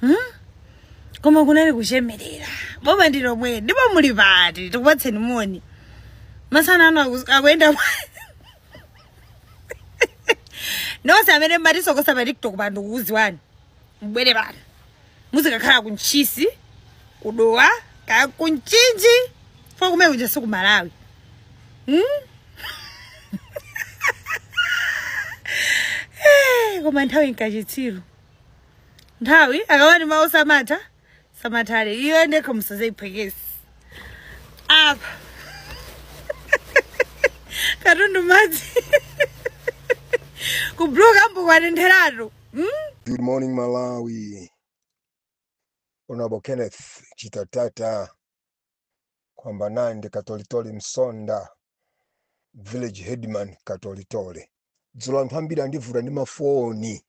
Hmm? koma kunali kuchemerera boma ndi lomweli ndipo muli pati tikupatseni moni masana ano aku- akuyenda nonse amene mmatisokosa pa tiktok pano tikuziwani mbwere pano muzikakhala ku ntchisi ku dowa kaya ku mchinji ifo kumene kuja si ku malawi hmm? Eh, koma nthawi nkachitsiru nthawi akamati mawa samatha samathale iyo ndekho musazayiphwekese apa katundu madzi kubuluka mbukwanentheratu mm? Good morning, Malawi. Honorable Kenneth Chitatata, kwamba naye ndi katolitole msonda village headman katolitole dzulo anthu ambiri andivuta ndi mafoni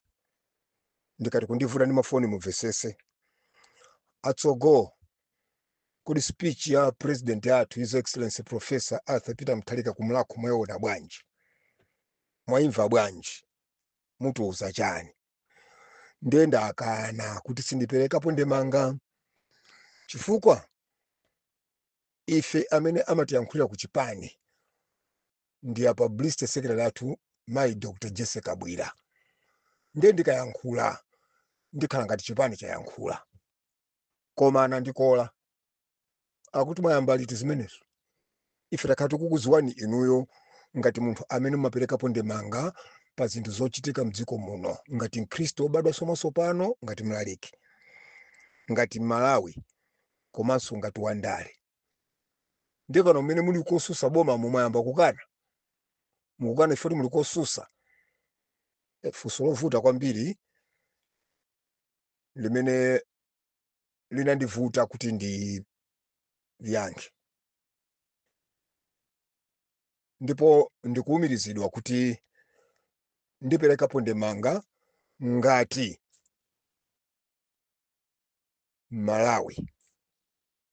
ndikati kundivuta ndi mafoni mumvesese atsogo kodi speech ya president athu his excellency professor arthur peter mutharika ku mulhako mwayiona bwanji mwayimva bwanji mutiuza chani ndiye ndakana kuti sindiperekapo ndemanga chifukwa ife amene amatiyankhulira ku chipani ndi a publicity secretary athu mayi dr jessie kabwila ndiye ndikayankhula ndikhala ngati chipani chayankhula koma anandikola akuti mwayamba liti zimenezo ife takhala tikukuziwani inuyo ngati munthu amene mumaperekapo ndemanga pa zinthu zochitika mdziko muno ngati mkhristu obadwa somaso pano ngati mlaliki ngati mmalawi komanso ngati wandale ndiye pano mmene muli kosusa boma mwayamba kukana mukukana ifoti muli kosusa Eh, funso lovuta kwambiri limene linandivuta kuti ndiyankhe ndipo ndikuumirizidwa kuti ndiperekapo ndemanga ngati Mmalawi.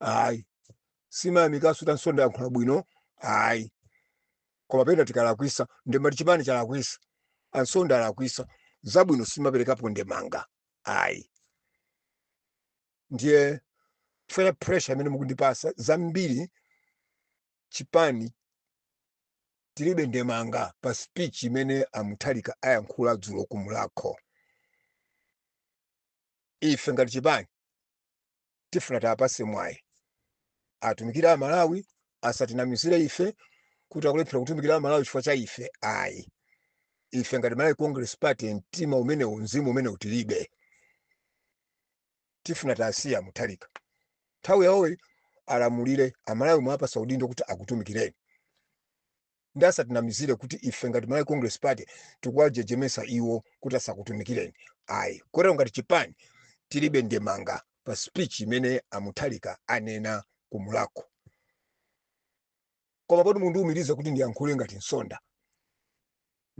ayi simayamikaso kuti ansonda ayankhula bwino ayi koma pena tikalakwisa ndemati chipani chalakwisa ansonda alakwisa zabwino simaperekapo ndemanga ayi ndiye ife pressure imene mukundipasa zambiri chipani tilibe ndemanga pa speech imene a mutharika ayankhula dzulo ku mulhako ife ngati chipani tifuna tiwapase mwayi atumikire amalawi asatinamizire ife kuti akulephera kutumikira amalawi chifukwa cha ife ayi ife ngati malawi congress party mtima umenewu mzimu umenewu tilibe tifuna tiwasiye muthalika nthawi yawoyi alamulire amalawi mwapasa udindo kuti akutumikireni nde asatinamizire kuti ife ngati malawi congress party tikuwajejemesa iwo kuti asakutumikireni ayi kotero ngati chipani tilibe ndemanga pa speech imene amuthalika anena kumulakho koma poti mundiumiriza kuti ndiyankhule ngati msonda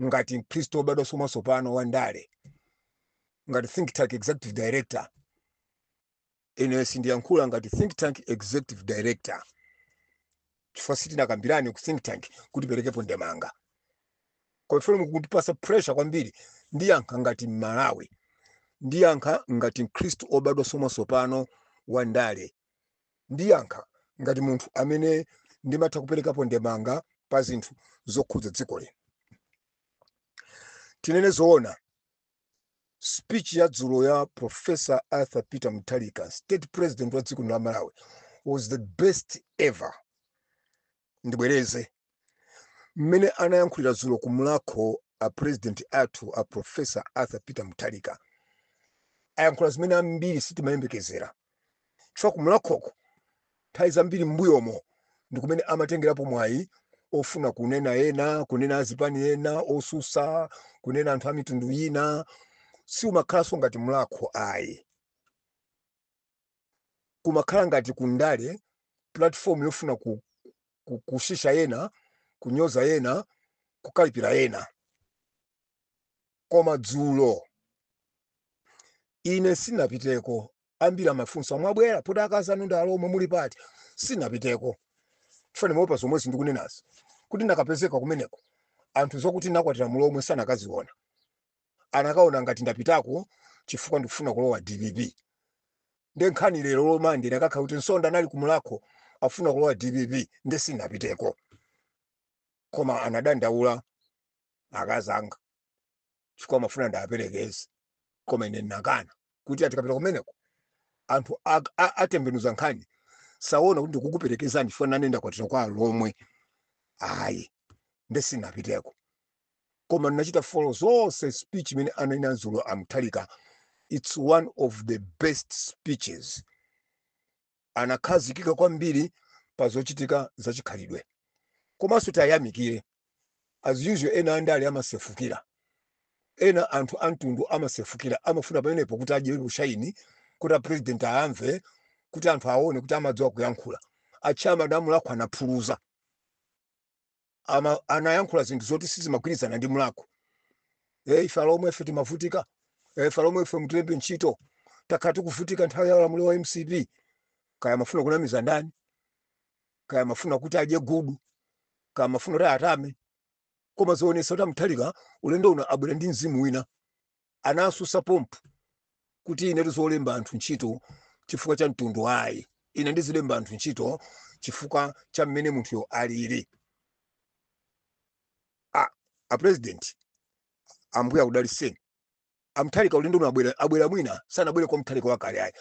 ngati mkhristu wobadwa mwatsopano wa ndale ngati think tank executive director ine sindiyankhula ngati think tank executive director chifukwa sitinakambirane ku think tank kuti tiperekepo ndemanga koma ifeyo mukutipasa pressure kwambiri ndiyankha ngati mmalawi ndiyankha ngati mkhristu obadwa mwatsopano wa ndale ndiyankha ngati munthu amene ndimatha kuperekapo ndemanga pa zinthu zokhudza dziko lino tinene zoona speech ya dzulo ya professor arthur peter mutharika state president wa dziko lino la malawi was the best ever ndibwereze mmene anayankhulira dzulo ku mulakho a president athu a professor arthur peter mutharika ayankhula zimene ambiri sitimayembekezera chifukwa kumlakhoko nthawi zambiri m'mbuyomo ndi kumene amatengerapo mwayi ofuna kunena ena kunena azipani ena osusa kunena anthu a mitundu ina si umakhalanso ngati mlakho ayi kumakhala ngati kundale platform yofuna kutsitsa ena kunyoza ena kukalipira ena Koma dzulo, ine sinapiteko. Ambiri amafunsa, mubwera poti akazi anu ndi alhomwe, muli pati? Sinapiteko chifukwa ndimaopa zomwezi ndikunenazi, kuti ndikadapezeka kumeneko anthu zokuti ndinakwatira mlhomwe sanakaziona, anakaona ngati ndapitako chifukwa ndikufuna kulowa dpp. Nde nkhani lero Lo Mande ikadakhala kuti Msonda anali ku Mulakho akufuna kulowa dpp, nde sinapiteko. Koma anadandaula akazi anga chifukwa amafuna ndiwaperekeze koma ine ndinakana kuti aa tikapita kumeneko anthu atembenuza nkhani saona kuti ndikukuperekezani chifukwa nane ndakwatira kwa alhomwe ayi nde sinapiteko koma ndinachita follow zonse speech imene ananena dzulo amuthalika its one of the best speeches anakhazikika kwambiri pa zochitika za chikhalidwe. Komanso tayamikire as usual ena andale amasefukira, ena anthu amtundu amasefukira, amafuna pamenepo kuti adye ushaini kuti apurezidenti ayamve kuti anthu aone kuti amadziwa kuyankhula. Atchama a Mulakho anaphuluza. ama, anayankhula zinthu zoti sizimagwirizana ndi mlakho e, ife alomwe ife timavutika e, ife alomwe ife mutilembe ntchito takhala tikuvutika nthawi ya ulamuliro wa mcp kaya amafuna kunamiza ndani kaya amafuna kuti adye gudu kaya amafuna kuti atame koma zoonesa kuti amuthalika ulendo uno abwera ndi mzimu wina anasusa pompo kuti ine zolemba anthu ntchito chifukwa cha mtundu ayi ine ndizilemba anthu ntchito chifukwa cha mmene munthuyo alili a, a president ambuye akudaliseni amthalika ulendo uno abwera mwina sanabwere kwa mthalika wakale ayi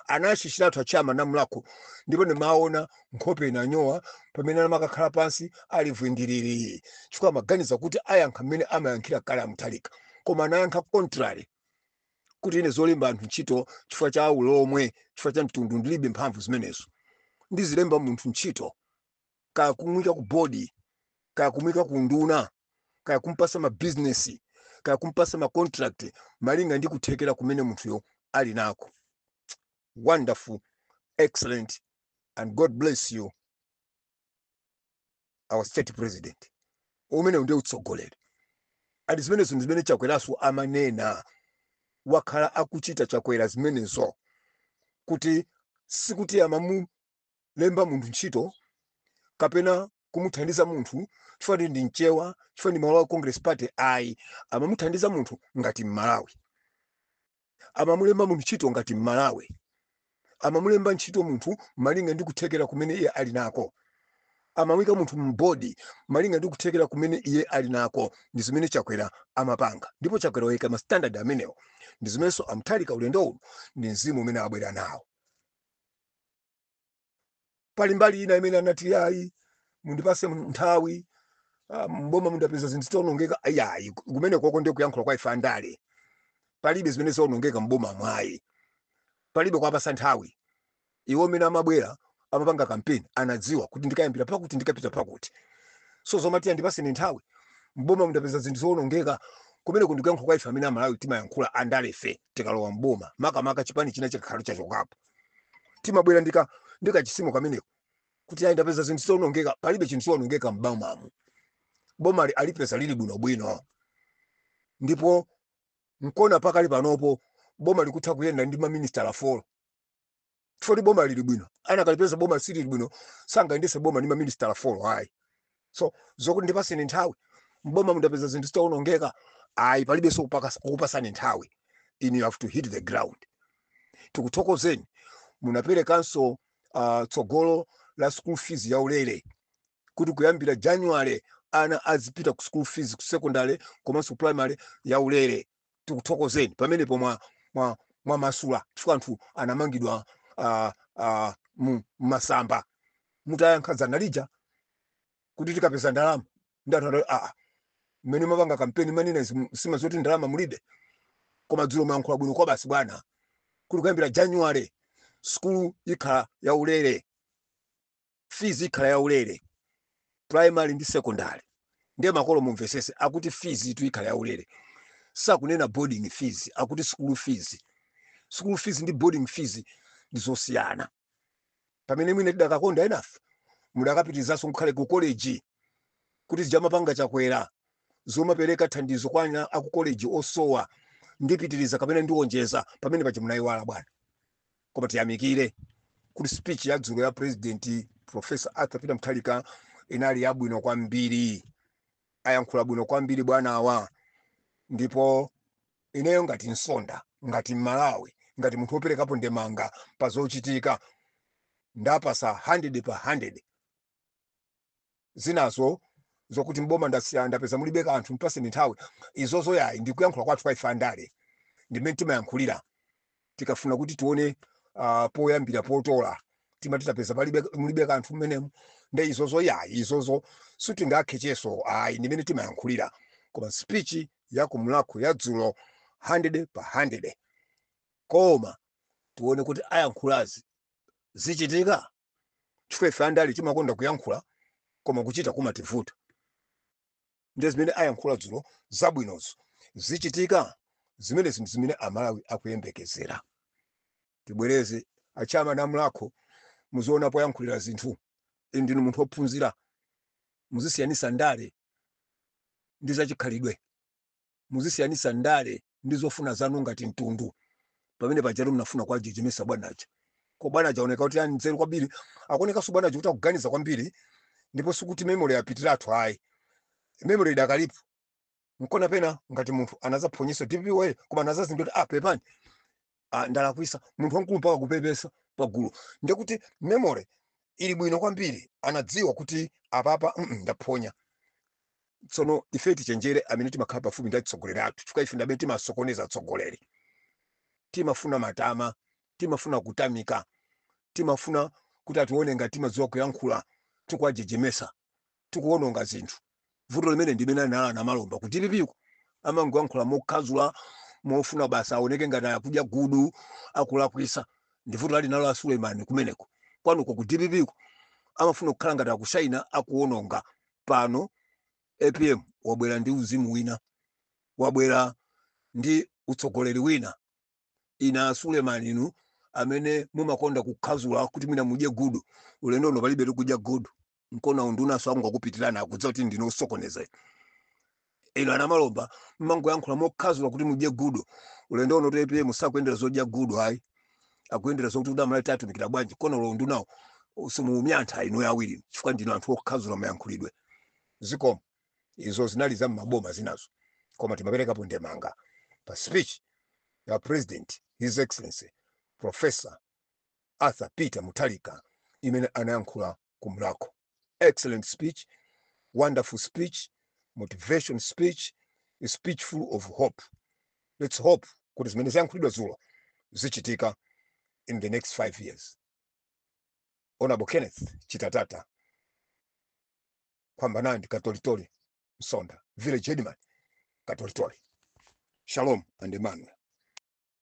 anashishiratu achama a mlako ndipo ndimaona Nkhope inanyowa pamene anamakakhala pansi ali vwindiriri chifukwa amaganiza kuti ayankha mmene amayankhira kale a Mutharika. Koma anayankha contrary kuti ine zolemba anthu ntchito chifukwa cha ulomwe, chifukwa cha mtundu ndilibe mphamvu zimenezo. Ndizilemba munthu ntchito kaya kumuyika ku bodi, kaya kumuyika ku unduna, kaya kumpatsa mabizinesi, kaya kumpatsa macontract malinga ndi kuthekera kumene munthuyo ali nako. wonderful excellent and god bless you our state president umenewu ndiye utsogoleri and zimenezo ndi zimene chakweraso amanena wakhala akuchita chakwera zimenezo kuti sikuti amamu lemba munthu ntchito kapena kumuthandiza munthu chifukwa ndi mchewa chifukwa ndi wa malawi congress party ayi amamuthandiza munthu ngati mmalawi amamulemba munthu ntchito ngati mmalawi amamulemba ntchito munthu malinga ndi kuthekera kumene iye ali nako amamuyika munthu mbodi malinga ndi kuthekera kumene iye ali nako ndi zimene chakwera amapanga ndipo chakwera wayika ma standard amenewo ndi zimenenso amuthalika ulendo uno ndi mzimu umene abwera nawo pali mbali ina imene anati ayi mundipase nthawi ah, mboma mundapeza zinthu zoonongeka ayayi kumene kuja ndi kuyankhula kwa ife andale palibe zimene zaonongeka mbomamu ayi palibe kwapasa nthawi iwo mmene amabwera amapanga kampeni anadziwa kuti ndikayambira pakuti ndikapita pakuti so zomati andipase nthawi mboma mundapeza zinthu zoonongeka kumene ku ndi kuyankhula kwa ife amene amalawi timayankhula andale fe tikalowa mboma makamaka chipani china chikakhala chachokapo timabwera ndi ka- ndi kachisimo kameneko kuti ayi ndapeza zinthu zoonongeka palibe chinthu choonongeka m'bomamu bomali alipeza lili bwinobwino ndipo nkona pakali panopo boma likutha kuyenda ndi maministala folo chifukwa boma lili bwino anakalipeza boma silili bwino sangayendetse boma ndi maministala folo ayi so zokuti ndipatseni nthawi m'boma mu ndapeza zinthu zitaonongeka ayi palibenso kupakasa- kukupatsani nthawi ine you have to hit the ground tikuthokozeni munaperekanso uh, tsogolo la school fees ya ulere kuti kuyambira january ana azipita ku school fees ku secondary komanso primary ya ulere tikuthokozeni pamenepo mwa mwa mwamasula chifukwa anthu anamangidwa uh, uh, mu masamba mutayankha dzana lija lakuti tikapeza ndalama nde anthu anati aa mmene mapanga kampeni manena izi musimadziwa zoti ndalama mulibe koma dzulo mwayankhula bwino kwabasi bwana kuti kuyambira january sukulu ikhala yaulere fees ikhala yaulere primary ndi secondary ndiye makolo mumvetsetse akuti feesitu ikhala yaulere sakunena boarding fees akuti school fees school fees ndi boarding fees ndi zosiyana pamene mwina tidakakonda enafe mudakapitirizanso ngakhale ku college kuti zija amapanga chakwera zomapereka thandizo kwa ana aku college osowa ndipitiriza kapena ndiwonjezera pamene paja munaiwala bwana koma tiyamikire kuti speech ya dzulo ya president professor arthur peter mutharika inali yabwino kwambiri ayankhula bwino kwambiri bwanawa ndipo ineyo ngati msonda ngati mmalawi ngati munthu woperekapo ndemanga pa zochitika ndapatsa 100 pa 100 zinazo zokuti mboma ndasiya ndapeza mulibe kanthu mpatseni nthawi izozo yayi ndi kuyankhula kwathu kwa ife andale ndi mmene timayankhulira tikafuna kuti tione uh, poyambira potola timati tapeza palibe mulibe kanthu mmenemu nde izozo yayi izozo sitingaketchenso ayi ndi mmene timayankhulira koma speech ya ku mulhako ya dzulo 100 pa 100 koma tione kuti ayankhulazi zichitika chifukwa ife andale timakonda kuyankhula koma kuchita kumativuta ndiye zimene ayankhula dzulo zabwinozo zichitika zimene zinthu zimene amalawi akuyembekezera tibwereze achama mulhako muziona poyankhulira zinthu inu ndinu munthu wophunzira muzisiyanitsa ndale ndi zachikhalidwe muzisiyanitsa ndale ndi zofuna zanu ngati mtundu pamene pajatu mnafuna kuwajejemetsa bwana aja koma bwana aja aoneka kuti ali ndi nzeru kwambiri akuonekanso bwana aja kuti akuganiza kwambiri ndipo sikuti memory yapitiratu ayi memory idakalipo nkona pena ngati munthu anadzaphonyetsa dpwa koma anadzazindikira kuti ah pepani ah, ndalakwisa munthu wamkulu mpaka kupepesa pagulu ndekuti memory ili bwino kwambiri anadziwa kuti apapa mm, mm, ndaphonya tsono ife tichenjere amene timakhala pafupi ndi atsogoleri athu chifukwa ife ndamene timasokoneza atsogoleri timafuna matama timafuna kutamika timafuna kuti atione ngati timadziwa kuyankhula tikuwajejemetsa tikuononga zinthu vuto limene ndimene ali nalo a Namalomba ku dpp ku amangoyankhula mokhazula mofuna basi aoneke ngati akudya gudu akulakwisa ndi vuto lali nalo a suleiman kumeneko kwanuko ku dpp ku amafuna kukhala ngati akushaina akuononga pano apm wabwera ndi uzimu wina wabwera ndi utsogoleri wina ina asuleman inu amene mumakonda kukhazula kuti mwina mudye gudu ulendo uno palibe kudya gudu nkona unduna angokupitirani akudziwa kuti ndinu osokoneza inu a Namalomba mmangoyankhula mokhazula kuti mudye gudu ulendo uno APM sakuyendera zodya gudu ayi akuyendera zokuti kuti a Malawi atumikira bwanji nkona olo undunawo simuumva anthu inu awiri chifukwa ndinu anthu okhazula mayankhulidwe zikomo izo zinali za mmaboma zinazo koma tingoperekapo ndemanga pa speech ya president his excellency professor arthur peter mutharika imene anayankhula ku mlakho excellent speech wonderful speech motivation speech a speech full of hope let's hope kuti zimene zayankhulidwa dzulo zichitika in the next five years honorable kenneth chitatata phambana ndi katolitoli msonda village headman katolitoli shalom and emmanuel